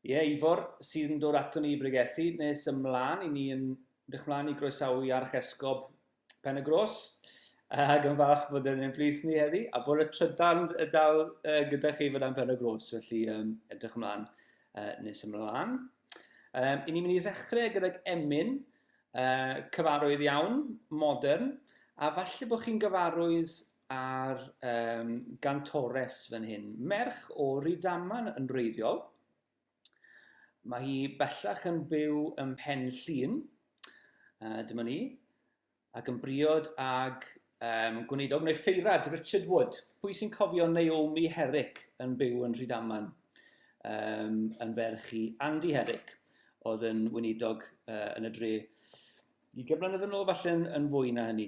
Ie, yeah, Ifor sy'n dod ato ni i bregethu nes ymlaen i ni yn dych mlaen i groesawu Archesgob Pen y Gros, ac yn falch bod yn ein plith ni heddi, a bod y trydan dal uh, gyda chi fyna'n Pen y Gros, felly um, edrych ymlaen uh, nes ymlaen. Um, I ni'n mynd i ddechrau gydag emyn, uh, cyfarwydd iawn, modern, a falle bod chi'n gyfarwydd ar um, gantores fan hyn. Merch o Rydaman yn wreiddiol, Mae hi bellach yn byw ym Mhen Llŷn, uh, dyma ni, ac yn briod ag um, gwneidog neu ffeirad Richard Wood. Pwy sy'n cofio Naomi Herrick yn byw yn Rhydaman? Um, yn ferch i Andy Herrick, oedd yn wneidog uh, yn y dre i gyflynedd yn ôl, falle yn, yn fwy na hynny.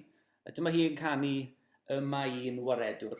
Dyma hi yn canu y mae un waredwr.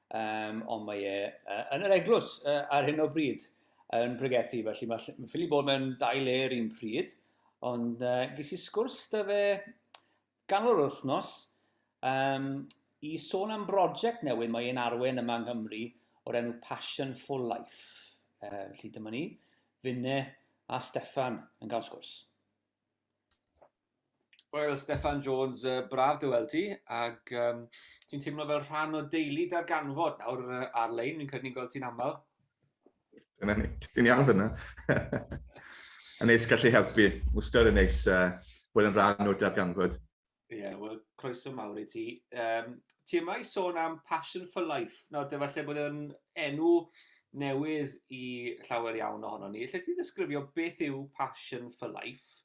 um, ond mae e uh, yn yr eglwys uh, ar hyn o bryd yn pregethu, felly mae ffili bod mewn dau le yr un pryd, ond uh, ges i sgwrs da fe ganol yr wythnos um, i sôn am brosiect newydd mae e'n arwen yma yng Nghymru o'r enw Passion for Life. Uh, felly dyma ni, Finne a Stefan yn cael sgwrs. Wel, Steffan Jones, uh, braf dy weld ti, ac um, ti'n teimlo fel rhan o deulu darganfod nawr uh, ar-lein, fi'n credu ni'n gweld ti'n aml. Dyna ni, ti'n iawn fyna. yn neis gallu helpu, wstad yn neis uh, bod yn rhan o darganfod. Ie, yeah, wel, croeso mawr i ti. Um, ti yma i sôn am Passion for Life. Nawr, dy falle bod yn enw newydd i llawer iawn ohonon ni. Lle ti ddisgrifio beth yw Passion for Life?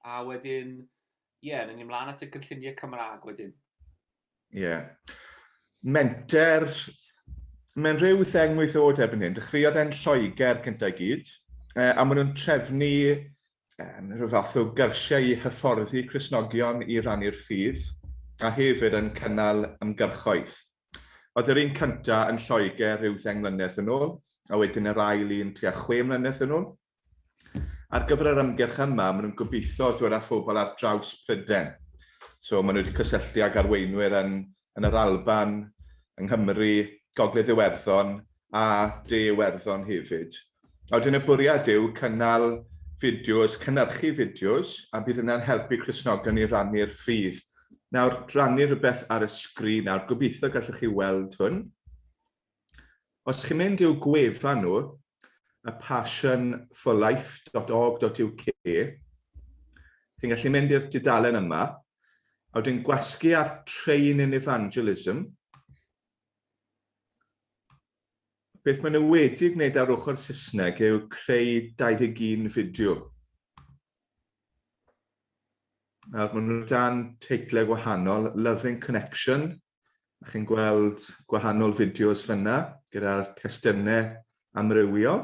A wedyn, ie, yeah, ni'n ymlaen at y cynlluniau Cymraeg wedyn. Ie. Yeah. Menter, mae'n rhyw theng wyth oed erbyn hyn. Dechreuodd e'n Lloegr cyntaf i gyd, e, a maen nhw'n trefnu um, rhyw fath o gyrsiau i hyfforddi Cresnogion i rannu'r ffydd, a hefyd yn cynnal ymgyrchoedd. Oedd yr un cyntaf yn Lloegr rhyw ddeng mlynedd yn ôl, a wedyn yr ail un tua chwe mlynedd yn ôl. Ar gyfer yr ymgyrch yma, maen nhw'n gobeithio dod â phobl ar draws Prydain. So, maen nhw wedi cysylltu ag arweinwyr yn, yn yr Alban, yng Nghymru, Gogledd Iwerddon a De Iwerddon hefyd. A wedyn y bwriad yw cynnal fideos, cynyrchu fideos, a bydd hynna'n helpu Cristnogion i rannu'r ffydd. Nawr, rannu rhywbeth ar y sgrin nawr, gobeithio gallwch chi weld hwn. Os chi'n mynd i'w gwefan nhw, y passionforlife.org.uk, chi'n gallu mynd i'r dudalen yma, a wedyn gwasgu ar Train in Evangelism, Beth maen nhw wedi gwneud ar ochr Saesneg yw creu 21 fideo. Nawr, maen nhw dan teitlau gwahanol, Loving Connection, a chi'n gweld gwahanol fideos fyna gyda'r testunau amrywiol.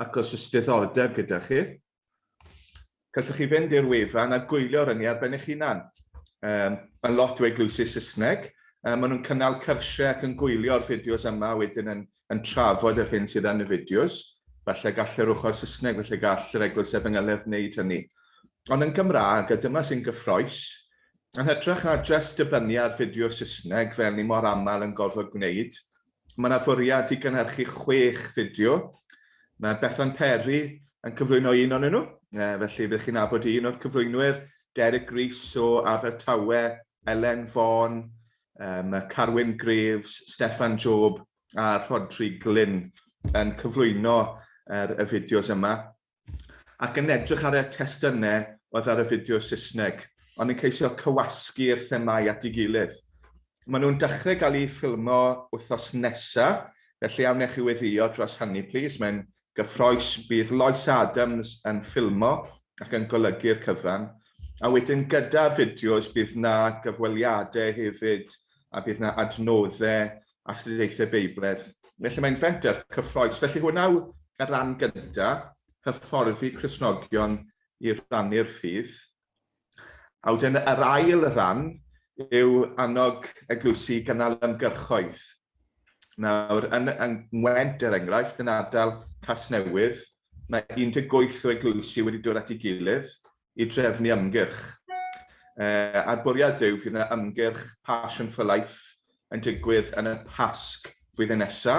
ac os oes diddordeb gyda chi, gallwch chi fynd i'r wefan a gwylio'r ynni ar ben eich hunan. Um, mae'n lot o eglwysi Saesneg, um, maen nhw'n cynnal cyrsiau ac yn gwylio'r fideos yma wedyn yn, yn trafod yr hyn sydd yn y fideos. Felly gall yr ochr Saesneg, felly gall yr eglwys efengeledd wneud hynny. Ond yn Gymraeg, a dyma sy'n gyffroes, yn hytrach na just dibynnu ar fideo Saesneg fel ni mor aml yn gorfod gwneud, Mae yna fwriad i gynhyrchu chwech fideo. Mae Bethan Perry yn cyflwyno un o'nyn nhw, felly byddwch chi'n nabod un o'r cyflwynwyr, Derek Rees o Abertawe, Elen Fon, mae Carwyn Graves, Steffan Job a Rhodri Glyn yn cyflwyno yr y fideos yma. ac yn edrych ar y testunau oedd ar y fideo Saesneg, ond yn ceisio cywasgu'r themâu at ei gilydd. Maen nhw'n dechrau gael eu ffilmo wythnos nesa, felly a wnech chi weddio dros hynny plis, mae'n gyffroes. Bydd Lois Adams yn ffilmo ac yn golygu'r cyfan, a wedyn gyda'r fideos bydd 'na gyfweliadau hefyd a bydd 'na adnoddau astudiaethau Beibledd, neu lle mae'n fenter cyffroes. Felly hwnna yw y ran gynta, hyfforddi Christnogion i rannu'r ffydd. A wedyn yr ail ran yw annog eglwysi i gynnal ymgyrchoedd. Nawr, yn, yn Ngwent, er enghraifft, yn ardal Casnewydd, mae 18 o eglwysi wedi dod at ei gilydd i drefnu ymgyrch. A'r bwriad yw bydd yna ymgyrch Passion for Life yn digwydd yn y Pasg flwyddyn nesa.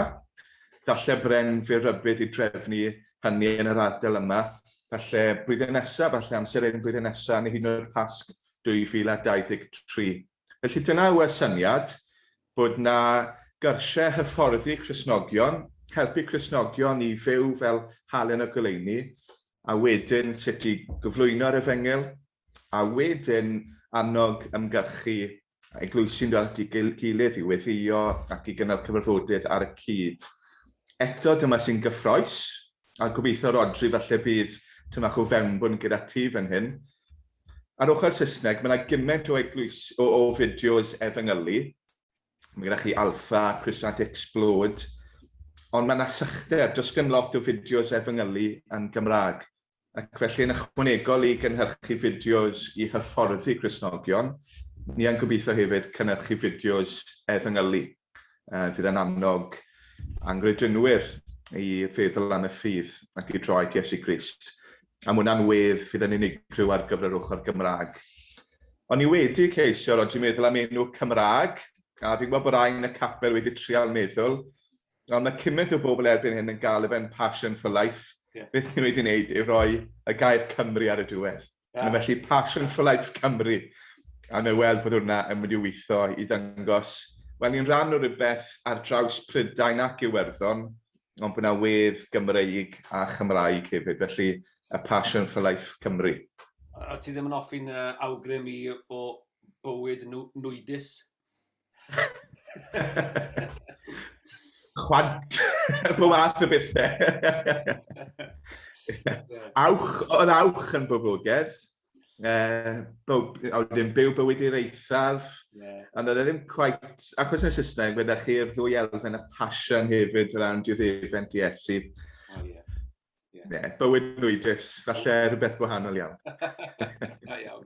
Falle bren fydd rybudd i drefnu hynny yn yr ardal yma. Falle blwyddyn nesa, falle amser hyn blwyddyn nesa, neu hyd yn oed Pasg 2023. Felly dyna yw y syniad, bod na gyrsiau hyfforddi Cristnogion, helpu Cristnogion i fyw fel halen o goleuni, a wedyn sut i gyflwyno'r Efengyl, a wedyn annog ymgyrchu eglwysi'n dod at ei gilydd i weddïo ac i gynnal cyfarfodydd ar y cyd. Eto, dyma sy'n gyffroes, a gobeithio Rhodri falle bydd tymach o fewnbwn gyda ti fan hyn. Ar ochr Saesneg, mae yna gymaint o eglwys o, o fideos efengylu, Mae gennych chi Alpha, Crusant Explode, ond mae yna sychder, does dim lot o fideos efengylu yn Gymraeg, ac felly yn ychwanegol i gynhyrchu fideos i hyfforddi Cristnogion, ni yn gobeithio hefyd cynhyrchu fideos efengylu. Uh, fydd yn annog angredinwyr i feddwl am y ffydd ac i droi at Iesu Grist. Am wnna'n wedd, fydd yn unigryw ar gyfer yr ochr Gymraeg. O'n i wedi ceisio, ro'n i'n meddwl am enw Cymraeg, a fi'n gwybod bod rai yn y capel wedi trial meddwl, ond mae cymaint o bobl erbyn hyn yn galw fe'n Passion for Life. Yeah. Beth ni wedi wneud yw roi y gair Cymru ar y diwedd. Yeah. A felly Passion for Life Cymru. A mae weld bod hwnna yn mynd i weithio i ddangos, wel, ni'n rhan o rhywbeth ar draws Prydain ac Iwerddon, ond bod yna wedd Gymreig a Chymraeg hefyd, felly a passion for life Cymru. O ti ddim yn offi'n uh, awgrym i o bywyd nwydus? Chwant, fy wath y bethau. awch, oedd awch yn boblogaidd, Uh, oedd ddim byw bywyd i'r eithaf, yeah. ond oedd e ddim quite, achos yn y Saesneg, fe ddech chi'r ddwy elfen y passion hefyd o ran diwddefent i Esi. Oh, yeah. Yeah. yeah. bywyd nwydus, falle rhywbeth gwahanol iawn. Da iawn.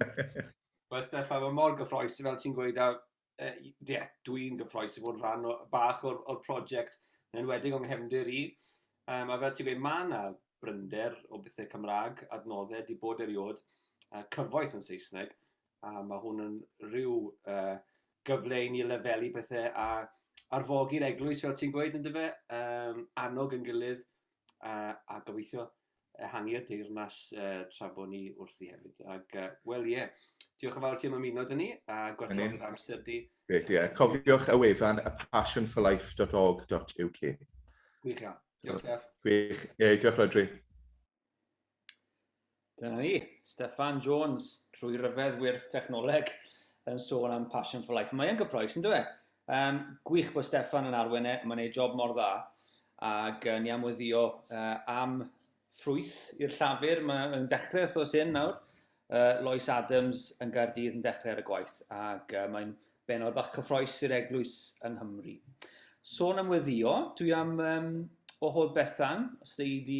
Wel, Stefan, mae mor gyffroes fel ti'n gweud, a uh, yeah, dwi'n gyffroes i fod yn rhan o, bach o'r, or prosiect yn enwedig o'n nghefndir i. Um, a fel ti'n gweud, mae yna brynder o bethau Cymraeg, adnoddau, di bod eriod, uh, cyfoeth yn Saesneg, a mae hwn yn rhyw uh, gyfle i ni lefelu pethau a arfogi'r eglwys, fel ti'n gweud, yn dyfa, um, annog yn gilydd, a, a gobeithio ehangu'r deyrnas uh, tra bod ni wrthi hefyd. Ac, uh, wel ie, yeah. diolch yn fawr ti am ymuno dyn ni a gwerthoch yr amser di. Ie, yeah. cofiwch y wefan y passionforlife.org.uk. Gwych iawn. Diolch, Steph. Gwych. Ie, diolch, Rodri. Dyna ni, Steffan Jones, trwy ryfedd wyrth technoleg, yn sôn am Passion for Life. Mae'n gyffroes, yn dweud. Um, gwych bod Steffan yn arwen e, mae'n ei job mor dda, ac uh, ni am weddio uh, am ffrwyth i'r llafur, mae'n dechrau wrth os hyn nawr. Uh, Lois Adams yn Gaerdydd yn dechrau ar y gwaith, ac uh, mae'n benod bach cyffroes i'r eglwys yng Nghymru. Sôn am weddio, dwi am um, o hodd Bethan, os dwi wedi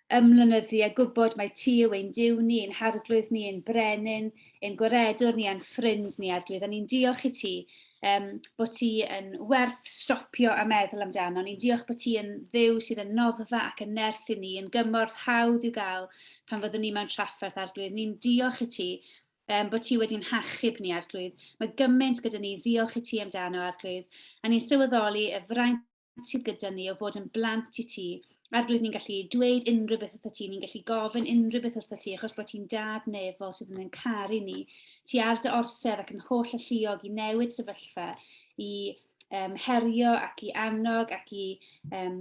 Ymlynyddu a gwybod mai ti yw ein Duw ni, ein Harglwydd ni, ein Brenin, ein Gwaredwr ni a'n Ffrind ni, Arglwydd. A ni'n diolch i ti um, bod ti yn werth stopio a meddwl amdano. Ni'n diolch bod ti yn ddew sydd yn noddfa ac yn nerth i ni, yn gymorth hawdd i'w gael pan fyddwn ni mewn trafferth, Arglwydd. Ni'n diolch i ti um, bod ti wedi'n hachub ni, Arglwydd. Mae gymaint gyda ni ddiolch i ti amdano, Arglwydd, a ni'n sylweddoli y fraint sydd gyda ni o fod yn blant i ti. Ar glyd ni'n gallu dweud unrhyw beth wrtho ti, ni'n gallu gofyn unrhyw beth wrtho ti, achos bod ti'n dad nefol sydd yn caru ni. Ti ar dy orsedd ac yn holl alluog i newid sefyllfa, i um, herio ac i annog ac i, um,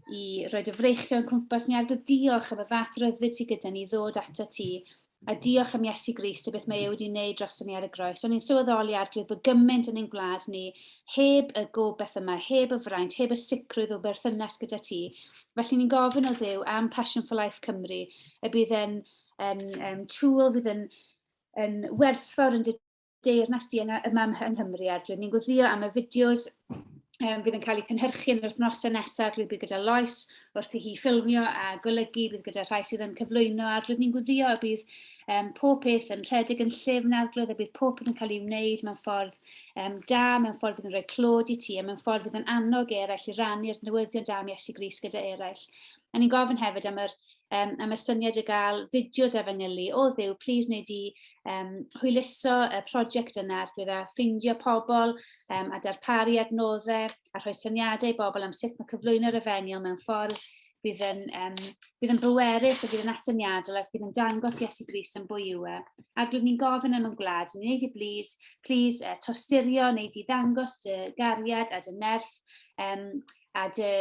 i roi dy freichio yn cwmpas ni. Ar glyd diolch am y fath ryddid sydd gyda ni ddod ato ti A diolch am Iesu Grist a beth mae e wedi wneud droson ni ar y groes. O'n i'n sylweddoli Arglwydd bod gymaint yn ein gwlad ni heb y gobeith yma, heb y fraint, heb y sicrwydd o berthynas gyda ti. Felly ni'n gofyn o Dduw am Passion for Life Cymru y bydd yn, yn, yn tool fydd yn, yn werthfawr yn dy Deyrnas Dienau y Mam yng Nghymru ar Rydyn ni'n gwthio am y fideos um, fydd yn cael eu cynhyrchu yn yr wythnosau nesaf rydyn bydd gyda Lois wrth i hi ffilmio a golygu bydd gyda rhai sydd yn cyflwyno a rydyn ni'n gwthio y bydd um, pob peth yn rhedeg yn llyfn arglwydd a bydd pob peth yn cael ei wneud mewn ffordd um, da, mewn ffordd fydd yn rhoi clod i ti a mewn ffordd fydd yn annog eraill i rannu'r newyddion da am Iesu Gris gyda eraill. A ni'n gofyn hefyd am yr, um, am y syniad o gael fideos a fanylu o ddiw, plis wneud i um, hwyluso y prosiect yna ar gyda ffeindio pobl um, a darparu adnoddau a rhoi syniadau i bobl am sut mae cyflwyno'r efengyl mewn ffordd bydd yn, um, bydd yn bwerus a bydd yn atyniadol ac bydd yn dangos Iesu Grist yn bwy yw e. Ac rydyn ni'n gofyn am yn gwlad, ni'n neud i blis, plis uh, tosturio, neud i ddangos dy gariad a dy nerth um, a dy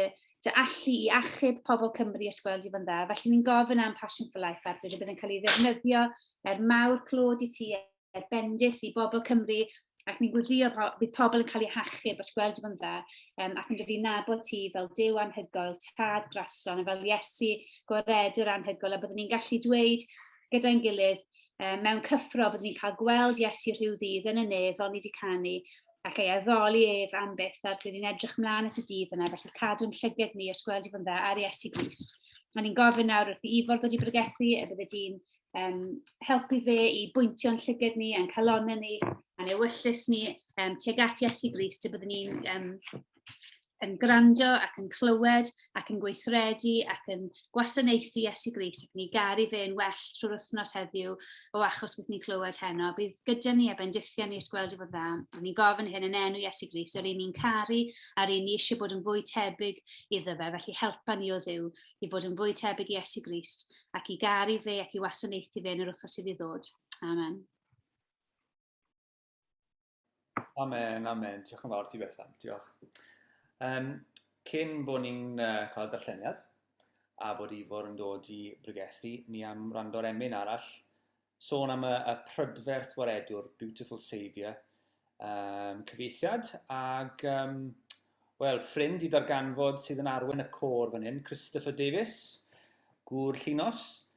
dy allu i achub pobl Cymru a sgweld i fo'n dda. Felly ni'n gofyn am Passion for Life ar bydd yn cael ei ddefnyddio er mawr clod i ti, er bendith i bobl Cymru, ac ni'n gwybio bydd pobl yn cael eu hachub os gweld i fo'n dda, um, ac yn dod i nabod ti fel dew anhygoel, tad graslon, a fel Iesu goredwr anhygoel, a byddwn ni'n gallu dweud gyda'n gilydd, um, mewn cyffro, byddwn ni'n cael gweld Iesu rhyw ddydd yn y nef, fel ni wedi canu, ac ei addoli ef am beth fel rydyn ni'n edrych mlaen at y dydd yna, felly cadw'n llyged ni os gweld i fod yn dda ar Iesu Gris. A ni'n gofyn nawr wrth i Ifor dod i bregethu, y bydde di'n um, helpu fe i bwyntio'n llyged ni, a'n calonau ni, a'n ewyllus ni um, tuag at Iesu Gris, y bydde ni'n um, yn gwrando ac yn clywed ac yn gweithredu ac yn gwasanaethu Iesu Gris ac yn ei garu fe yn well trwy'r wythnos heddiw o achos beth ni'n clywed heno. Bydd gyda ni a bendithion ni ysgweld i fod dda. A ni'n gofyn hyn yn enw Iesu Gris, yr un ni'n caru a'r un ni eisiau bod yn fwy tebyg iddo fe, felly helpa ni o ddiw i fod yn fwy tebyg i Iesu Gris ac i garu fe ac i wasanaethu fe yn yr wythnos sydd i ddod. Amen. Amen, amen. Diolch yn fawr ti Bethan, diolch. Um, cyn bod ni'n uh, cael darlleniad a bod Ifor yn dod i bregethu, ni am rando ar emyn arall, sôn am y, y prydferth waredwr, Beautiful Saviour, um, cyfeithiad, ac, um, wel, ffrind i darganfod sydd yn arwen y côr fan hyn, Christopher Davis, gŵr llinos,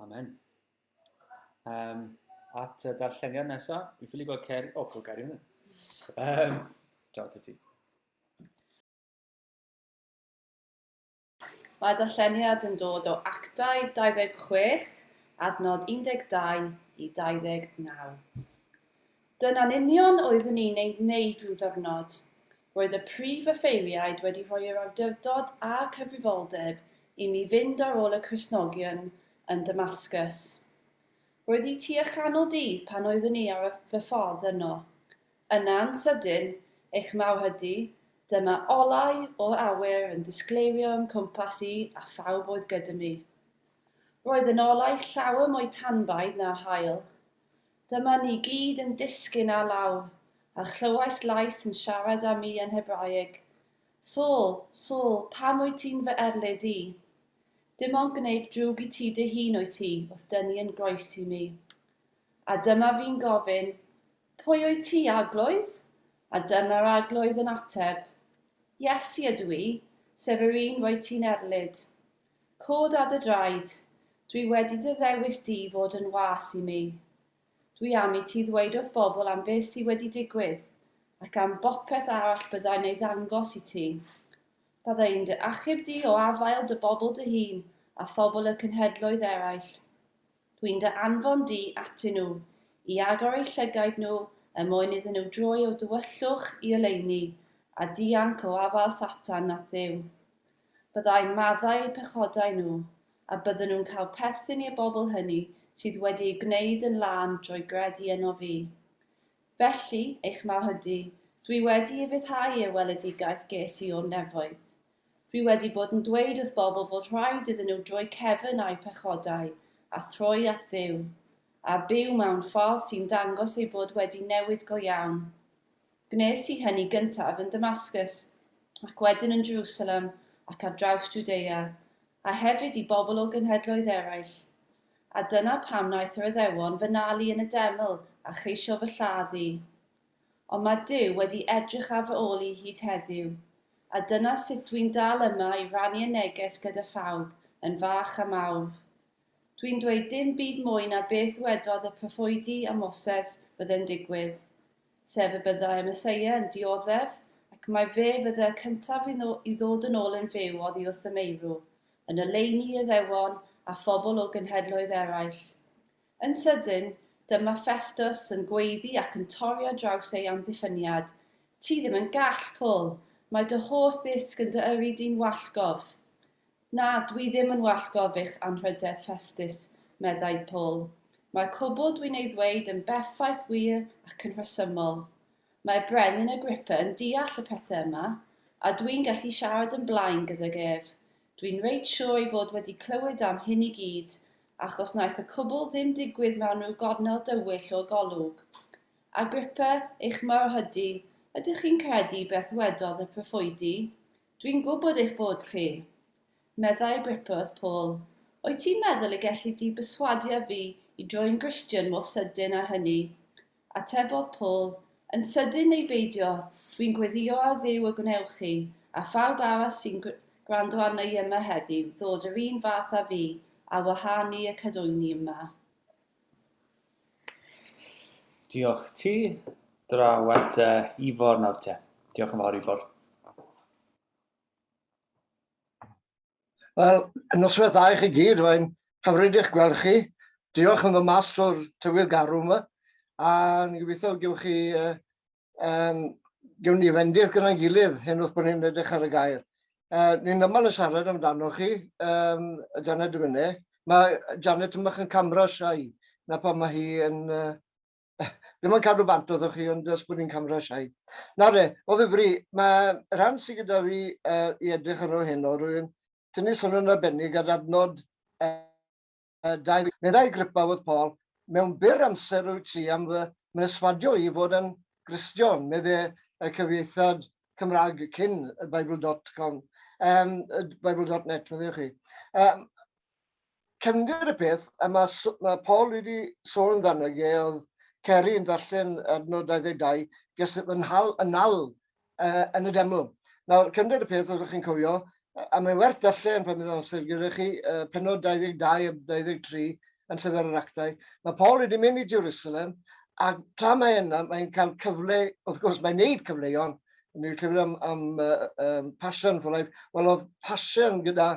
Amen. Um, at y darlleniad nesaf, mi ffili gweld Ceri... O, oh, Ceri hwnna. Um, Diolch ti ti. Mae darlleniad yn dod o Actau 26, adnod 12 i 29. Dyna'n union oeddwn ni'n ei wneud ryw ddiwrnod. Roedd y prif offeiriaid wedi rhoi yr awdurdod a'r cyfrifoldeb i mi fynd ar ôl y Cristnogion yn Damascus. Roedd hi tua chanol dydd pan oeddwn ni ar fy ffordd yno. Yna yn sydyn, eich mawr hydy, dyma olau o'r awyr yn disgleirio o'm cwmpas i a phawb oedd gyda mi. Roedd yn olau llawer mwy tanbaidd na'r haul. Dyma ni gyd yn disgyn â law, a chlywais lais yn siarad â mi yn Hebraeg, Saul, Saul, pam wyt ti'n fy erlid i? Dim ond gwneud drwg i ti dy hun wyt ti wrth dynnu yn groes i mi. A dyma fi'n gofyn, Pwy wyt ti, Arglwydd? A dyma'r Arglwydd yn ateb, Iesu ydw i, sef yr un roedd ti'n erlid. Cod a dy draed. Dwi wedi dy ddewis di i fod yn was i mi. Dwi am i ti ddweud wrth bobl am beth sy wedi digwydd, ac am bopeth arall byddai'n ei ddangos i ti. Byddai'n dy achub di o afael dy bobl dy hun a phobl y cenhedloedd eraill. Dwi'n dy anfon di atyn nhw, i agor eu llygaid nhw er mwyn iddyn nhw droi o'u dywyllwch i oleuni, a dianc o afael Satan at Dduw. byddai'n maddau eu pechodau nhw, a bydden nhw'n cael perthyn i'r bobl hynny sydd wedi ei gwneud yn lân drwy gredu ynof fi. Felly, eich Mawrhydi, dwi wedi ufuddhau i'r weledigaeth ges i o'r nefoedd. Dwi wedi bod yn dweud wrth bobl fod rhaid iddyn nhw droi cefn a'u pechodau, a throi at Dduw, a byw mewn ffordd sy'n dangos eu bod wedi newid go iawn. Gwnes i hynny gyntaf yn Damascus, ac wedyn yn Jerusalem ac ar draws Jwdea, a hefyd i bobl o genhedloedd eraill. A dyna pam wnaeth yr Iddewon fy nal i yn y deml a cheisio fy lladd i. Ond mae Duw wedi edrych ar fy ôl i hyd heddiw, a dyna sut dwi'n dal yma i rannu y neges gyda phawb, yn fach a mawr. Dwi'n dweud dim byd mwy na beth ddwedodd y proffwydi a Moses fydde'n digwydd, sef y byddai y Meseia yn dioddef, ac mai fe fyddai y cyntaf i ddod yn ôl yn fyw oddi wrth y meirw, yn oleuni Iuddewon a phobl o genhedloedd eraill. Yn sydyn, dyma Ffestws yn gweiddi ac yn torri ar draws ei amddiffyniad, Ti ddim yn gall, Pwl! Mae dy holl ddisg yn dy yrru di'n wallgof! Na, dwi ddim yn wallt gofych anrhydedd Festus, meddai Paul. Mae'r cwbl dwi'n ei ddweud yn berffaith wir ac yn rhesymol. Mae Brenin Agrippa yn deall y pethau yma, a dwi'n gallu siarad yn blaen gydag ef. Dwi'n reit siwr ei fod wedi clywed am hyn i gyd, achos wnaeth y cwbl ddim digwydd mewn rhyw gornel dywyll o'r golwg. Agrippa, eich mawr hydi, ydych chi'n credu beth wedodd y proffwydi? Dwi'n gwybod eich bod chi, meddai Griffith Paul. Wyt ti'n meddwl y gelli di berswadio fi i droi'n Gristion mor sydyn â hynny? Atebodd Paul, Yn sydyn neu beidio, dwi'n gweddïo ar Dduw y gwnewch chi, a phawb arall sy'n gwrando arna i yma heddiw, ddod yr un fath â fi, ar wahân ni y cadwyni yma. Diolch ti, draw at uh, Ifor nawr te. Diolch yn fawr Ifor. Wel, noswaith dda i chi gyd, mae'n hyfryd eich gweld chi. Diolch yn fy mas o'r tywydd garw yma, a ni'n gobeithio gewch chi uh, Um, Gewn ni fendith gyda'n gilydd hyn wrth bod ni'n edrych ar y gair. Uh, ni'n yma yn siarad amdano chi, um, Janet Dyfynne. Mae Janet yn bach yn camera siai, na pan mae hi yn... Uh, ddim yn cadw bant oedd chi, ond ys bod ni'n camera siai. Na re, o ddifri, mae rhan sydd gyda fi uh, i edrych ar ôl hyn o rwy'n tynnu sylw'n arbennig ar adnod uh, Dau, meddai Grippawodd Paul, mewn byr amser rwyt ti am fy mhreswadio i fod yn Gristion, medde y cyfieithad Cymraeg cyn Bible dot com, um, Bible dot net, medde chi. Um, cefndir y peth, a mae, mae Paul wedi sôn amdano ge, oedd Ceri yn ddarllen adnod 22, ges fy nhal yn nal uh, yn y demo. Nawr, cymryd y peth, os ydych chi'n cofio, a mae'n werth darllen pan bydd amser gyda chi, uh, penod 22 a 23 yn llyfr yr actau, mae Paul wedi mynd i Jerusalem, a tra mae yna, mae'n cael cyfle, wrth gwrs, mae'n neud cyfleuon, yn ei llyfr am, am uh, um, passion, for life, wel oedd passion gyda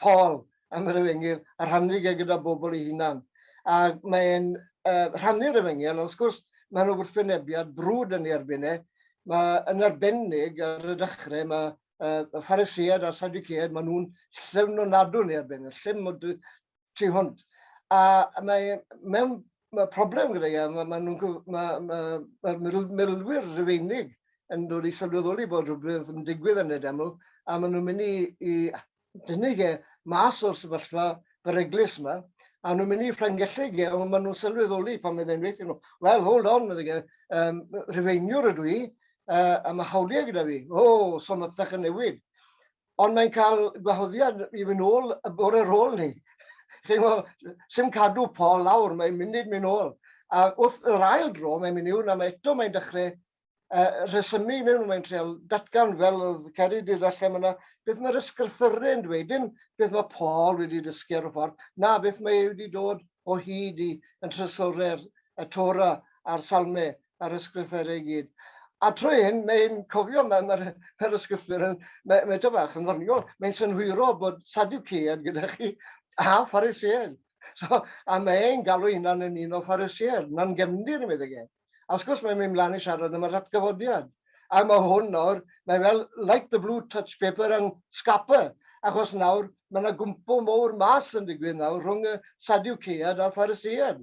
Paul am yr Efengyl a rhannu fe gyda bobl ei hunan. A mae e'n uh, rhannu'r Efengyl, ond wrth gwrs mae'n yna wrthwynebiad brwd yn ei erbyn e. Mae yn arbennig ar y dechrau, mae uh, y Phariseaid a'r Sadduceaid, maen nhw'n llym o nadw yn ei erbyn, yn llym o tu hwnt. A mae mewn mae problem gyda e, mae, mae, nhw, mae, mae, mae milwyr rhyweinig yn dod i sylweddoli bod rhywbeth yn digwydd yn y deml, a maen nhw'n mynd i, i tynnu fe mas o'r sefyllfa beryglus 'ma, a nhw'n mynd i Ffrangelleg e, ond maen nhw'n sylweddoli pan fydde'n weithio nhw, well, hold on, medde fe, um, Rhufeiniwr ydw i, uh, a mae hawliau gyda fi, o, oh, so mae pethau'n newid. Ond mae'n cael gwahoddiad i fynd ôl y bore rôl ni. Chi'n gwybod, sy'n cadw Paul lawr, mae'n mynd i'n mynd ôl. A wrth yr ail dro, mae'n mynd i'w, na mae eto mae'n dechrau uh, rhesymu mewn, mae'n treol datgan fel oedd Ceri wedi ddarllen yna, beth mae'r ysgrythyrau yn dweud, dim beth mae Paul wedi dysgu ar y ffordd, na beth mae ei wedi dod o hyd i yn trysorau'r y Tora a'r Salmau a'r ysgrythyrau i gyd. A trwy hyn, mae'n cofio, mae'r mae, mae ysgrythur yn, mae, mae bach yn ddoniol, mae'n synhwyro bod Sadducean gyda chi a Pharisean. So, a mae'n galw hynna'n yn un o Pharisean, na'n gefndir, yn meddwl gen. A wrth gwrs mae'n mynd mlaen i siarad am yr atgyfodiad. A mae hwn nawr, mae fel like the blue touch paper and scupper, achos nawr mae yna gwmpo mowr mas yn digwydd nawr rhwng y Sadiwceiad a'r Phariseiad.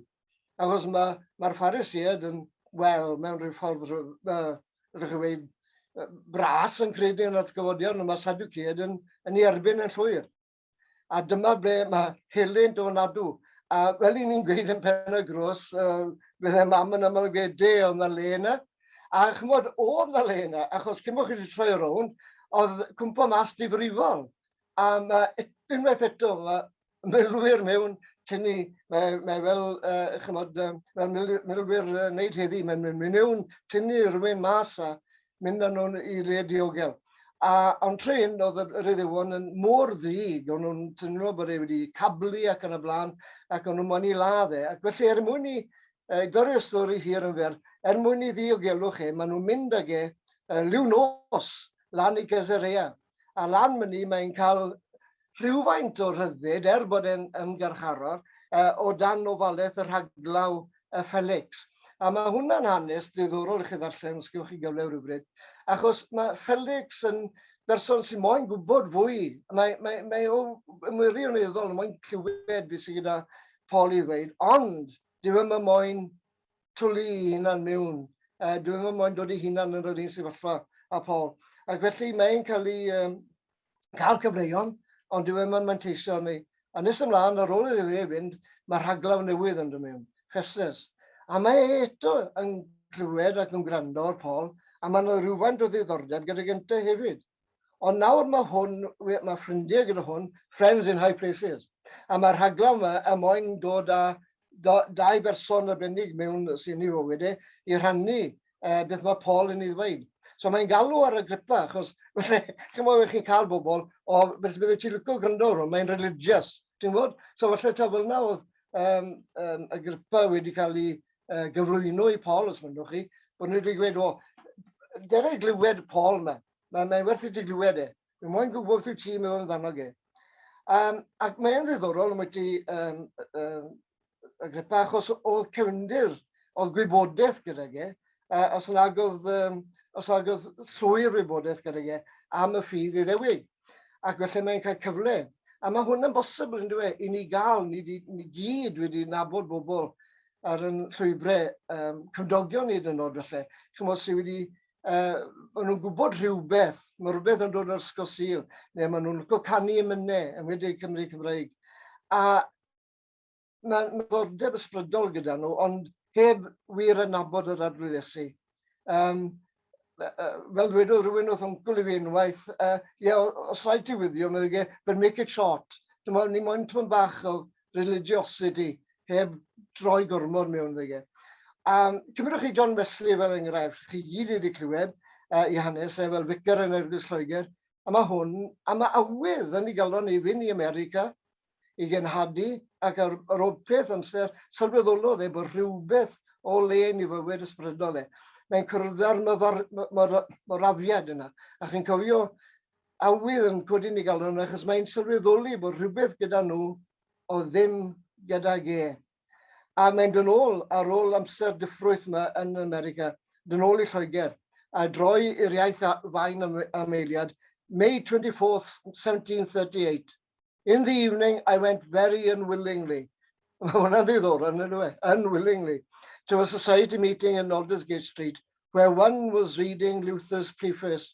Achos mae'r ma Phariseiad yn, wel, mewn rhyw ffordd, uh, rydych chi'n dweud, bras yn credu yn yr atgyfodiad, ond mae Sadiwceiad yn, yn ei erbyn yn llwyr. A dyma ble mae helynt o nadw. A fel i ni'n gweud yn pen y grws, uh, bydde mam yn aml gweud, de, oedd na le yna. A chymod, oedd na le yna, achos cyn bod chi wedi troi rownd, oedd cwmpo mas difrifol. A mae unwaith eto, mae milwyr mewn tynnu, mae, mae fel, uh, chymod, fel milwyr uh, wneud heddi, mae'n mynd mewn tynnu rhywun mas a, mynd â nhw'n i le diogel. A ond trin, oedd yr Iddewon yn mor ddig, o'n nhw'n teimlo bod e wedi cablu ac yn y blaen, ac o'n nhw'n moyn i ladd e. Ac felly, er mwyn i uh, dorri y stori hir yn fer, er mwyn i ddiogelwch e, maen nhw'n mynd ag e uh, liw nos lan i Gezerea. a lan myny mae'n cael rhywfaint o rhyddid, er bod e'n ymgyrcharor, o dan ofalaeth y rhaglaw y Felix. A mae hwnna'n hanes ddiddorol i chi ddarllen, os gewch chi gyfle rhywbryd, achos mae Felix yn berson sy'n moyn gwybod fwy. Mae, mae, mae o yn wirioneddol yn moyn clywed beth sydd gyda Paul i ddweud, ond dyw e ddim yn moyn twli ei hunan mewn, yy dyw e ddim moyn dod ei hunan yn yr un sefyllfa â Paul. Ac felly mae e'n cael ei um, cael cyfleon, ond dyw e ddim yn manteisio arni. A nes ymlaen, ar ôl iddo fe fynd, mae rhaglaw newydd yn dod mewn, Chesnes. A mae e eto yn clywed ac yn gwrando ar Paul, a mae yna rhywfaint o ddiddordeb gyda Genta hefyd. Ond nawr mae hwn, mae ffrindiau gyda hwn, friends in high places. A mae'r rhaglen yma er mwyn dod â dau berson arbennig mewn sy'n ei fywyd e, i rhannu uh, beth mae Paul yn ei ddweud. So mae'n galw ar y gripau, achos felly, chi'n meddwl, chi'n cael bobl, o, felly bydde ti'n licio gwrando ar hwn, mae'n religious, ti'n bod? So felly, ta fel yna oedd um, um, y gripau wedi cael ei uh, gyflwyno i Paul, os mynnwch chi, bod nhw wedi gweud, o, dera i glywed Paul yma. Mae, mae werth i ti glywed e. Mae moyn gwybod beth ti'n meddwl amdano ge. Um, ac mae'n ddiddorol am wedi um, um, Agrippa, achos oedd cefndir, oedd gwybodaeth gyda ge, uh, os nag oedd, um, os nag oedd llwy'r wybodaeth gyda ge am y ffydd i ddewig. ac felly mae'n cael cyfle. A mae hwn yn bosibl, yn dweud, i ni gael, ni, ni gyd wedi nabod bobl ar yn llwybrau um, cymdogion hyd yn oed felly, chymod sydd wedi, uh, maen nhw'n gwybod rhywbeth, mae rhywbeth yn dod o'r Ysgol Sil, neu maen nhw'n licio canu emynau, yn wedi Cymru Cymraeg. A Mae myddordeb ysbrydol gyda nhw, ond heb wir yn nabod yr Arglwydd Iesu. Um, fel dwedodd rhywun wrth ymgwyl i fi unwaith, uh, ie, os rhaid ti wyddio, meddwl ge, but make it short. Dwi'n meddwl, ni moyn tymyn bach o religiosity, heb droi gormod mewn ddege. Um, cymryd chi John Wesley fel enghraifft, chi gyd wedi clywed uh, i hanes e fel ficar yn Eglwys Lloegr, a mae hwn, a mae awydd yn ei galon i fynd i America, i genhadu ac ar ôl peth amser sylweddolodd e bod rhywbeth o le yn ei fywyd ysbrydol e. Mae'n cwrddau'r morafiad yna, a chi'n cofio awydd yn codi yn ei galon achos mae'n sylweddoli bod rhywbeth gyda nhw oedd ddim gydag e. A mae'n dod nôl ar ôl amser diffrwyth yma yn America, dod nôl i Lloegr, a droi i'r iaith a fain am, am eiliad, May 24th, 1738. In the evening I went very unwillingly, mae hwnna'n ddiddorol, yn ynddo e? Unwillingly, to a society meeting in Aldersgate Street, where one was reading Luther's preface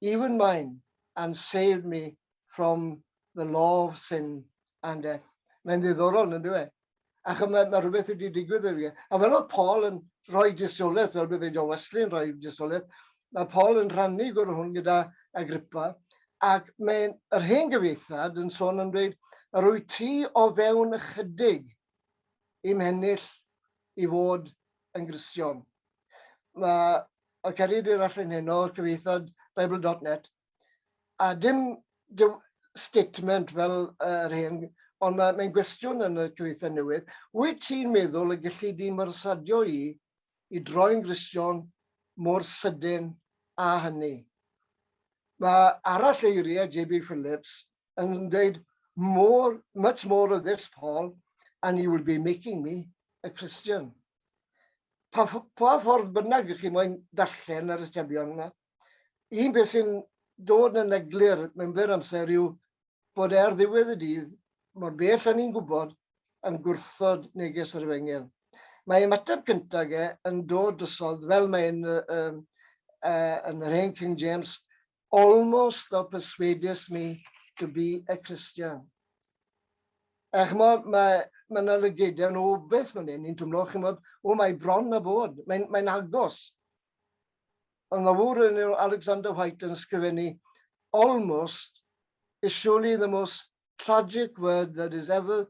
even mine, and saved me from the law of sin and death. Mae'n ddiddorol, yn dweud. E? Ac mae, mae rhywbeth wedi digwydd iddi. E. A fel oedd Paul yn rhoi disolaeth, fel bydd ei John Wesley yn rhoi disolaeth, mae Paul yn rhannu gwrdd hwn gyda Agrippa, ac mae'n yr hen gyfeithad yn sôn yn dweud, yr wyt ti o fewn ychydig i'm hennill i fod yn Gristion. Mae oedd Ceri Dyr Allen Heno, cyfeithiad Bible.net, a dim statement fel yr hen, ond mae'n mae gwestiwn yn y cyfeithiad newydd, wyt ti'n meddwl y gellid di myrsadio i i droi'n Gristion mor sydyn a hynny? Mae arall eiriau JB Phillips yn dweud more, much more of this Paul and you will be making me a Christian. pa ff- pa ffordd bynnag ych chi moyn darllen yr atebion yna, un peth sy'n dod yn eglur mewn byr amser yw bod e ar ddiwedd y dydd, mor bell â ni'n gwybod, yn gwrthod neges yr Efengyl. Mae ymateb cyntaf e yn dod drosodd, fel mae'n yy yy yn yr hen King James, Almost thou persuadest me to be a Christian. A ch'mod, mae, mae yna lygedau nhw beth fan hyn, ni'n twmlo, ch'mod, o mae bron a bod, mae'n mae agos. Ond mae wr yn Alexander White yn sgrifennu, almost is surely the most tragic word that is ever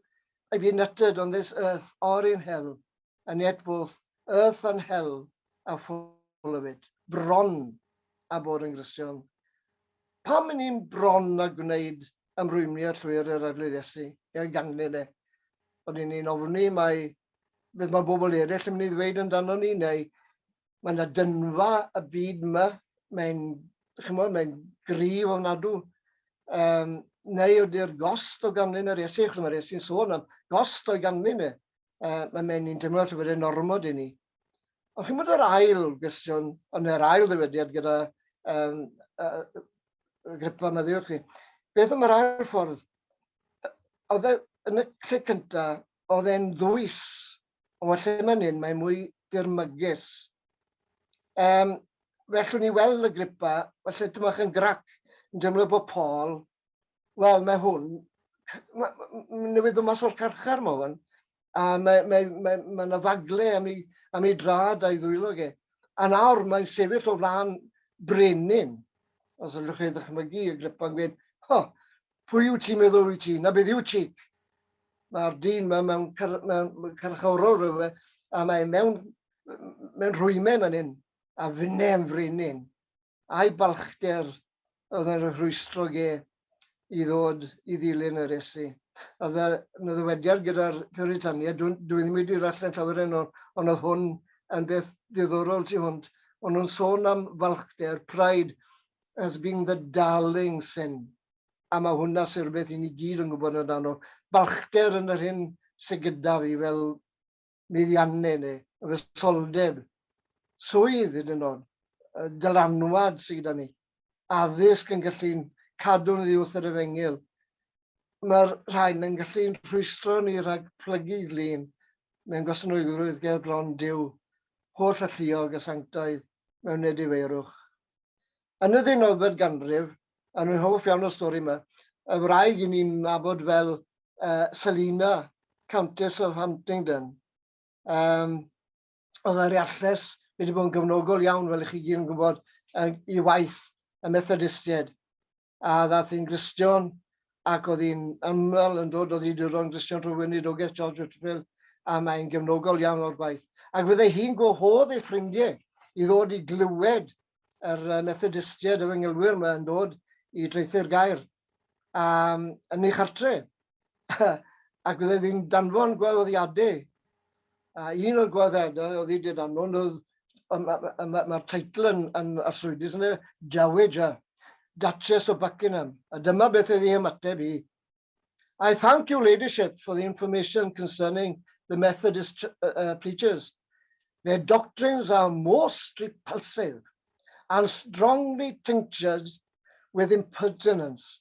I've been uttered on this earth or in hell, and yet both earth and hell are full of it. Bron a bod yn Gristion. Pam yn ni'n bron a gwneud ymrwymio llwyr yr arglwydd Iesu? Ia'n ganglyn e. Ond yn ni'n ofni mae beth mae bobl eraill yn mynd i ddweud amdano ni neu Mae yna dynfa y byd yma, mae'n, chymod, mae'n gryf ofnadw. Um, neu ydy'r gost o ganlyn yr Iesu, achos mae'r Iesu'n sôn am gost o'i ganlyn e. Uh, mae mae'n un dymor llyfr yn ormod i ni. Ond chi'n bod yr ail gwestiwn, ond yr ail ddywediad gyda um, uh, gripa meddiwch chi. Beth am yr ail ffordd? Oedd e, yn y lle cyntaf, oedd e'n ddwys Ond wel, lle mae'n hyn, mae'n mwy dirmygus. Um, felly ni weld y gripa, felly dyma chi'n grac yn deimlo bod Paul, wel, mae hwn, newydd o mas o'r carchar mae hwn, a mae yna mae, mae, mae, mae fagle am ei, am ei drad a'i ddwylo ge. A nawr mae'n sefyll o flaen brenin, os ydych chi ddechmygu y gripa'n gweud, ho, Pwy wyt ti'n meddwl wyt ti? Na beth yw ti? Mae'r dyn yma mewn car, mewn carchorol rhywle, a mae mewn, mewn rhwymen fan hyn, a fynne yn frenin. A'i balchder oedd yn rhwystro ge i ddod i ddilyn yr esu. A dda, na ddywediad gyda'r Puritania, dwi, dwi ddim wedi rallen llawer yn ôl, ond oedd hwn yn beth diddorol tu hwnt. Ond nhw'n sôn am falchder, pride, as being the darling sin, a mae hwnna sy'n rhywbeth i ni gyd yn gwybod yn dan o balchder yn yr hyn sydd gyda fi fel meddianne neu y fesoldeb, swydd hyd yn oed, dylanwad sydd gyda ni, addysg yn gallu'n cadw'n ddiwth yr efengyl. Mae'r rhain yn gallu'n rhwystro ni rhag plygu glin mewn gwasanaethrwydd ger bron Duw, holl alluog a sanctaidd mewn edifeirwch. Yn y ddeunawfed ganrif, a rwy'n hoff iawn o'r stori yma, y wraig i ni'n nabod fel uh, Selina, Countess of Huntingdon. Um, oedd yr iarlles wedi bod yn gyfnogol iawn, fel ych chi gyd yn gwybod, i waith y Methodistiaid. a ddaeth yn Gristion ac oedd hi'n ymweld yn dod o ddiduron Gristion trwy weinidogaeth George Whitfield a mae'n gefnogol iawn o'r gwaith. Ac fydde hi'n gwahodd ei ffrindiau i ddod i glywed yr Methodistiaid, y fy ngylwyr yma yn dod i draethu'r gair um, yn ei chartre. ac oedd e ddim danfon gwahoddiadau. A un o'r gwahoddiadau oedd i dyd anfon oedd, mae'r ma, ma, ma teitl yn, yn arswydus yn y Dowager, Duchess of Buckingham. A dyma beth oedd ei ymateb i. I thank your ladyship for the information concerning the Methodist uh, uh preachers. Their doctrines are most repulsive and strongly tinctured with impertinence.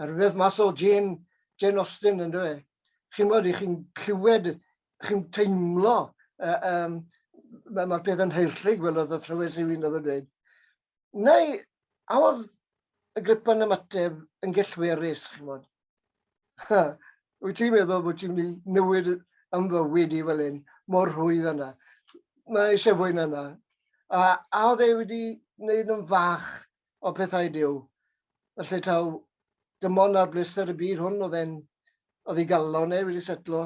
a rhywbeth mas o Jane, Jane Austen yn dweud. Chi'n bod, i chi'n clywed, chi'n teimlo, uh, um, mae'r ma peth yn heirllug, fel oedd y thrywes i fi'n oedd yn dweud. Neu, a oedd y gripan ymateb yn gellwerus, chi'n bod? Wyt ti'n meddwl bod ti'n mynd i newid yn fywyd i fel hyn, mor rhwydd yna. Mae eisiau fwy na yna. A, a oedd e wedi gwneud yn fach o pethau Duw. Felly taw dim ond ar bleser y byd hwn oedd e'n oedd ei galon e wedi setlo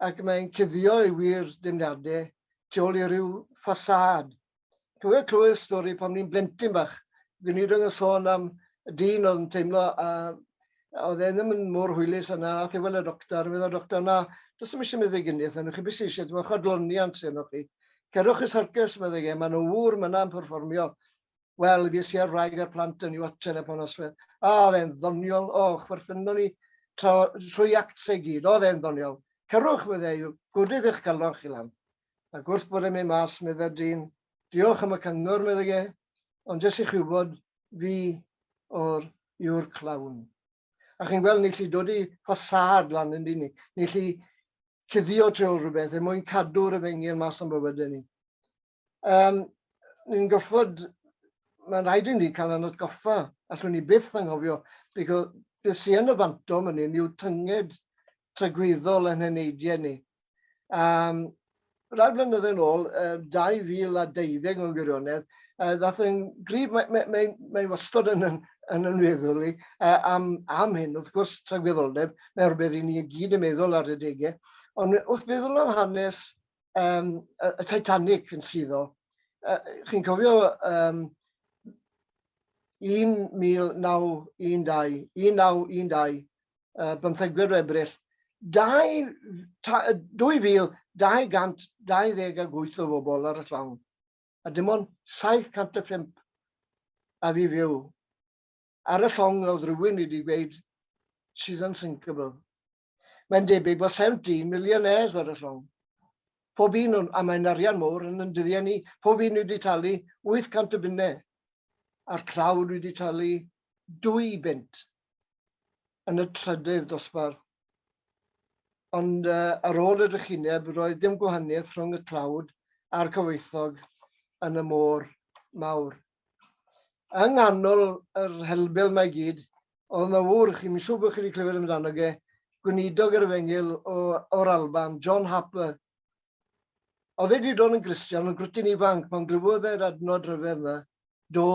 ac mae'n cuddio ei wir demniadau tu ôl i ryw ffasâd. Cofio clywed y stori pan ni'n blentyn bach, gweinidog yn sôn am y dyn oedd yn teimlo a oedd e ddim yn mor hwylus yna, a thewel y doctor, a y doctor, na, does dim eisiau meddwl gynnith, yna chi beth sy'n eisiau, dyma chodloniant sy'n o'ch chi. Cerwch y sarcus, meddwl e, maen nhw wr myna yn perfformio. Wel, fi sy'n rhaeg ar plant yn yw at telefon osfedd. A, oedd e'n ddoniol, o, chwerthynon ni trwy actau gyd, oedd e'n ddoniol. Cerwch, fydde yw, gwrdydd eich galon chi lan. A gwrth bod e'n mynd mas, meddai'r dyn, diolch am y cyngor, meddai e, ond jyst i chi wybod, fi o'r yw'r clawn. A chi'n gweld, ni chi dod i ffasad lan yn dyn ni, ni chi cuddio tu ôl rhywbeth er mwyn cadw'r efengyl mas o'n bywydau ni. Um, ni'n gorfod, mae'n rhaid i ni cael yn atgoffa, allwn ni byth anghofio, beth be sy'n yn y fanto yn hyn yw tynged tragwyddol yn heneidiau ni. Um, rai blynyddoedd yn ôl, 2012 mewn gwirionedd, ddath yn grif, mae'n mae, mae, mae wastod yn, yn, yn yn meddwl i, am, am hyn, wrth gwrs, tragwyddoldeb, mae'n rhywbeth i ni gyd yn meddwl ar y degau, ond wrth feddwl am hanes um, y Titanic yn suddo. Uh, Chi'n cofio um, 1912, 1912, uh, bymthegwyr o Ebrill, 2228 o bobl ar y llawn, a dim ond 705 a fi fyw. Ar y llong oedd rhywun wedi gweud, she's unsinkable. Mae'n debyg bod 17 millionaires ar y llong. Pob un o'n, a mae'n arian mawr yn yn dyddiau ni, pob un wedi talu 800 o bunnau, a'r tlawd wedi talu 2 bunt yn y trydydd dosbarth. Ond uh, ar ôl y drychineb, roedd dim gwahaniaeth rhwng y tlawd a'r cyfoethog yn y môr mawr. yng nghanol yr helbel mae gyd, oedd yna ŵr, chi'n siŵr bod chi wedi clywed amdano ge, gweinidog yr efengyl o, o'r Alban, John Harper. Oedd e wedi dod yn Gristion, yn grwtyn ifanc, pan glywodd e'r adnod rhyfedd yna, do,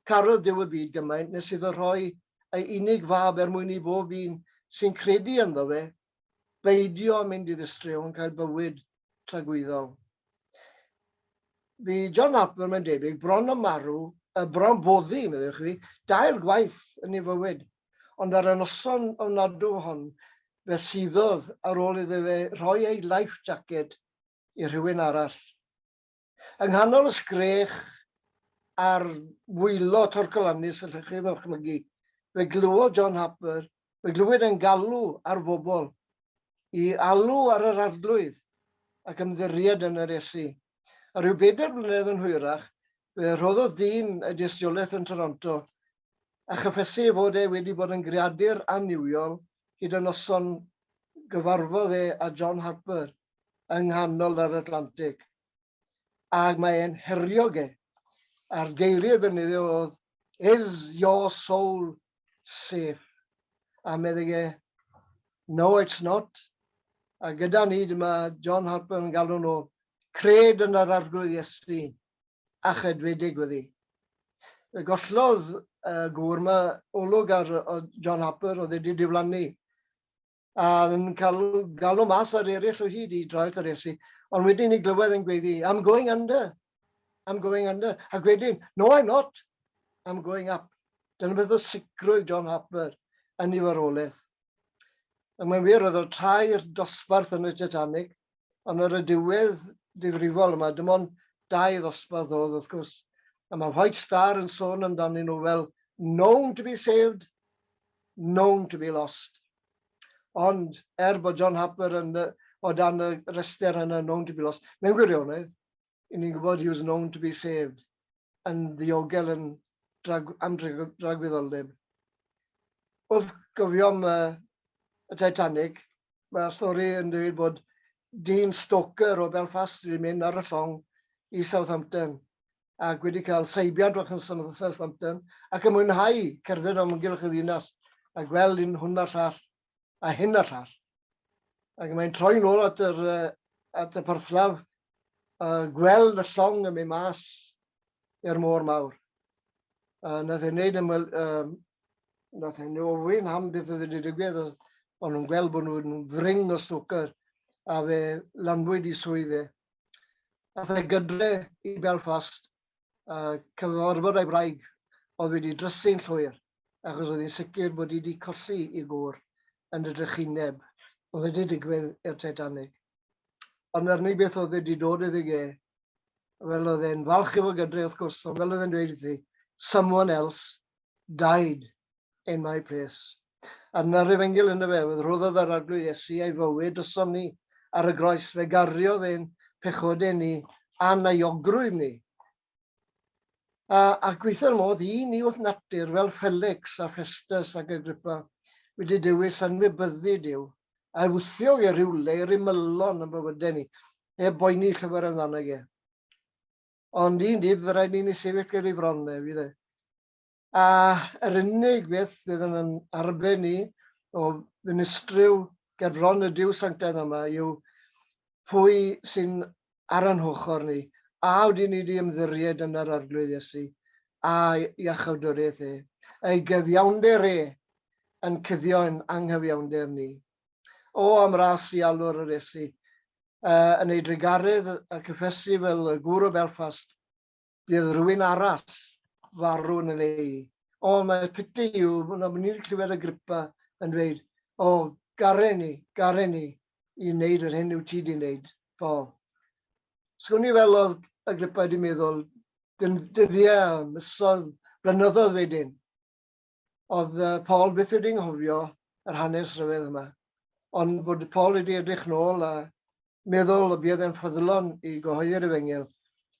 carodd Dyw y byd gymaint nes iddo rhoi ei unig fab er mwyn i bob un sy'n credu ynddo fe beidio â mynd i ddistryw yn cael bywyd tragwyddol. Bu John Harper, mae'n debyg, bron a marw, y bron boddi, meddwch chi, dair gwaith yn ei fywyd, ond ar y noson ofnadw hon, fe suddodd ar ôl iddo fe rhoi ei life jacket i rhywun arall. Yng nghanol y sgrech a'r wylo torcalannus allech chi ddychmygu, fe glywodd John Harper, fe glywyd e'n galw ar fobl i alw ar yr Arglwydd ac ymddiried yn yr Iesu. A rhyw bedair blynedd yn hwyrach, fe rhoddodd dyn y dystiolaeth yn Toronto, a chyffesu ei fod e wedi bod yn greadur annuwiol hyd y noson gyfarfodd e â John Harper. yng nghanol yr Atlantig, ac mae e'n herio ge, a'r geiriau ddefnyddio oedd Is your soul safe? A meddyg e, No it's not. A gyda ni dyma John Harper yn galw nhw cred yn yr Arglwydd Iesu a chedwedig wedi. Fe gollodd y gŵr yma olwg ar John Harper oedd wedi diflannu. a yn cael galw mas ar eraill o hyd i droi at Iesu, ond wedyn ni glywed yn gweddi, I'm going under, I'm going under, ac wedyn, no I'm not, I'm going up. Dyna beth o sicrwydd John Harper yn ei farwolaeth. A mae'n wir, oedd o'r tair dosbarth yn y Titanic, Ond ar y diwedd difrifol yma, dim ond dau ddosbarth oedd wrth gwrs, a mae White Star yn sôn amdanyn nhw fel known to be saved, known to be lost. Ond er bod John Harper yn, o dan y rester yna known to be lost, mewn gwirionedd, i ni'n gwybod he was known to be saved, yn ddiogel yn drag, am dragwyddoldeb. Wrth gofiom uh, y Titanic, mae'r stori yn dweud bod dyn stoker o Belfast wedi mynd ar y llong i Southampton ac wedi cael seibiant o'ch yn Southampton ac yn mwynhau cerdded am ymgylch y ddinas a gweld un hwn a'r llall a hyn a llall. Ac mae'n troi nôl at, yr, at y porthlaf a gweld y llong yn mynd mas i'r môr mawr. A nath ei wneud ymwyl, um, nath ei ofyn am beth oedd wedi digwydd, ond nhw'n gweld bod nhw'n fring o snwcer a fe lanwyd i swydd e. Nath ei gydre i Belfast uh, cafodd orfod ei wraig oedd wedi drysu'n llwyr, achos oedd hi'n sicr bod hi wedi colli i gŵr yn y drychineb oedd wedi digwydd i'r Titanic. Ond yr unig beth oedd wedi dod iddi ge, fel oedd e'n falch efo gydre wrth gwrs, ond fel oedd e'n dweud iddi, someone else Died, in my place. Ar na'r efengyl ynddo fe oedd rhoddodd yr Arglwydd Iesu ei fywyd drosom ni ar y groes, fe gariodd ein pechodau ni a'n euogrwydd ni. A, a gweithio'r modd i ni wrth natur fel Felix a Festus ac Agrippa wedi dewis anwybyddu Dyw, a wthio i rywle i'r ymylon yn bywydau ni, heb boeni llyfr amdano fe. Ond un dydd fy rhaid i ni sefyll ger ei fron e, fydd e. A yr unig beth fydd yn yn arben ni o ddinistryw ger bron y Duw Sanctaidd yma yw pwy sy'n ar yn hochr ni, a ydyn ni wedi ymddiried yn yr Arglwydd Iesu a'i iachawdwriaeth e, ei gyfiawnder e yn cuddio'n anghyfiawnder ni. O am ras i alw'r aresi. Uh, yn ei drugaredd a cyffesu fel y gŵr o Belfast, bydd rhywun arall farw yn yn ei. O, mae piti yw, na mynd i'n clywed y gripa yn dweud, o, garen ni, garen ni, i wneud yr hyn yw ti di wneud, Paul. Sgwn i fel oedd y gripa wedi meddwl, dyddiau, misoedd, blynyddoedd wedyn. Oedd Paul byth wedi nghofio yr hanes rhyfedd yma, ond bod Paul wedi edrych nôl a meddwl y buodd e'n ffyddlon i gyhoeddi'r efengyl,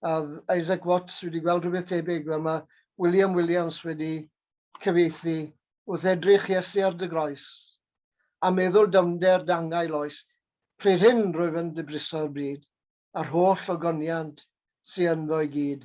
a oedd Isaac Watts wedi gweld rhywbeth tebyg, wel mae William Williams wedi cyfieithu Wrth edrych Iesu ar dy groes, a meddwl dyfnder dangail oes, pryd hyn rwyf yn dy briso'r bryd, a'r holl ogoniant sy ynddo i gyd.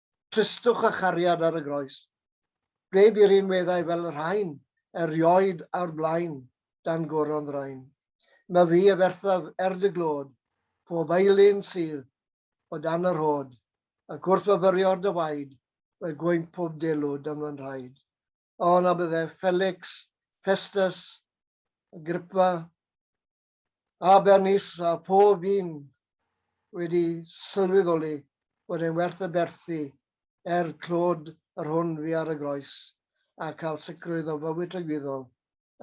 tristwch a chariad ar y groes. Ble bu rhinweddau fel y rhain erioed a'r blaen dan goron ddraen. Mae fi a ferthaf er dy glod, pob aelun sydd o dan yr hod, ac wrth fyfyrio dy waed, mae gwynt pob delw dan fy nhraed. O, na bydde Felix, Festus, Agrippa, Abernis a phob un wedi sylweddoli bod e'n werth y berthi er clod yr hwn fu ar y groes a cael sicrwydd o fywyd tragwyddol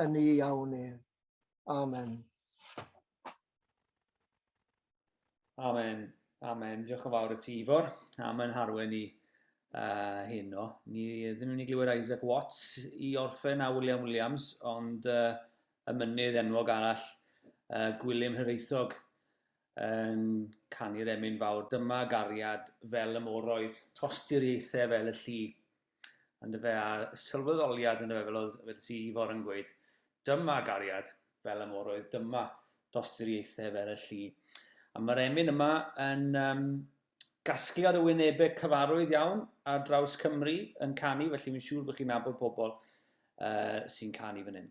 yn ei awn ef. Amen. Amen, amen. Diolch yn fawr y ti, Ifor, am yn harwen ni uh, hyn o. Ni ddim yn mynd i glywed Isaac Watts i orffen a William Williams, ond uh, y mynydd enwog arall, uh, Gwilym Hyreithog, yn canu'r emyn fawr. Dyma gariad fel y moroedd, tosturiaethau fel y llu, yn dyfe, a sylweddoliad yn dyfe, fel oedd wedi ti Ifor yn gweud, dyma gariad fel y moroedd, dyma dosturiaethau fel y llu. A mae'r emyn yma yn um, gasgliad o wynebau cyfarwydd iawn ar draws Cymru yn canu, felly mi'n siŵr bod chi'n nabod pobl uh, sy'n canu fan hyn.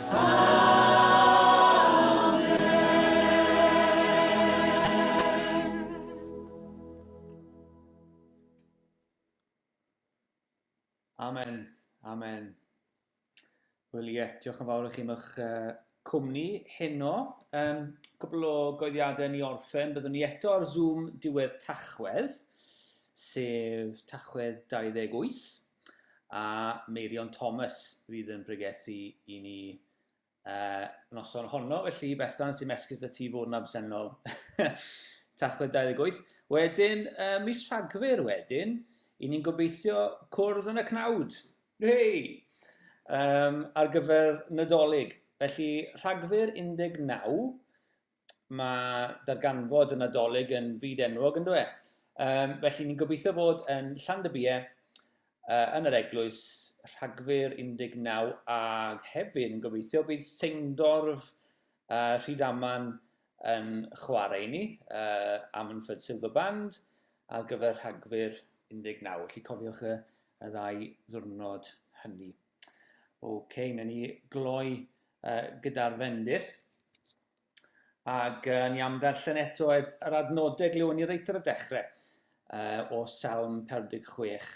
Amen. Amen. Wel ie, diolch yn fawr i chi am eich uh, cwmni heno. Um, cwbl o goeddiadau ni orffen. Byddwn ni eto ar Zoom diwedd Tachwedd, sef Tachwedd 28. a Meirion Thomas fydd yn pregethu i ni uh, noson honno. Felly, Bethan, sy'n mesgus da ti fod yn absennol. Tachwedd 28. Wedyn, uh, mis Rhagfyr wedyn, i ni'n gobeithio cwrdd yn y cnawd. Hei! Um, ar gyfer Nadolig. Felly, Rhagfyr 19, mae darganfod y Nadolig yn fyd enwog yn dweud. Um, felly ni'n gobeithio fod yn Llandybiau uh, yn yr eglwys rhagfyr 19 a hefyd yn gobeithio bydd Seindorf uh, Rhydaman yn chwarae i ni uh, am yn ffyd Silver Band ar gyfer rhagfyr 19. Felly cofiwch y, y ddau ddwrnod hynny. Ok, newn ni gloi uh, gyda'r fendith. Ac uh, ni am ddarllen eto yr adnodau glywon ni reit ar y dechrau uh, o Salm 46.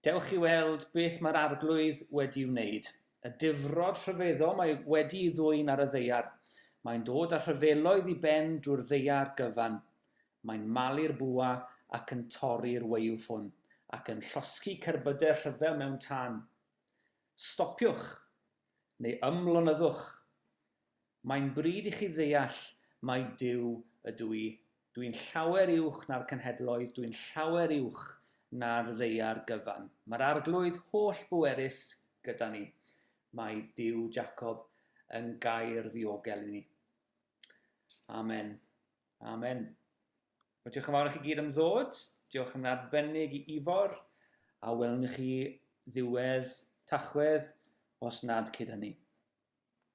Dewch i weld beth mae'r arglwydd wedi wneud. Y difrod rhyfeddol mae wedi ei ddwy'n ar y ddeiar. Mae'n dod â rhyfeloedd i ben drwy'r ddeiar gyfan. Mae'n malu'r bwa ac yn torri'r weuw ffwn, ac yn llosgi cerbydau rhyfel mewn tân. Stopiwch! Neu ymlonyddwch! Mae'n bryd i chi ddeall mai Duw ydw i. Dw i'n llawer uwch na'r cenhedloedd, dw i'n llawer uwch na'r ddaear gyfan. Mae'r Arglwydd holl-bwerus gyda ni. Mae Duw Jacob yn gair ddiogel i ni. Amen. Amen. Wel, diolch yn fawr i chi gyd am ddod. Diolch yn arbennig i Ifor. A welwn i chi ddiwedd Tachwedd, os nad cyd hynny.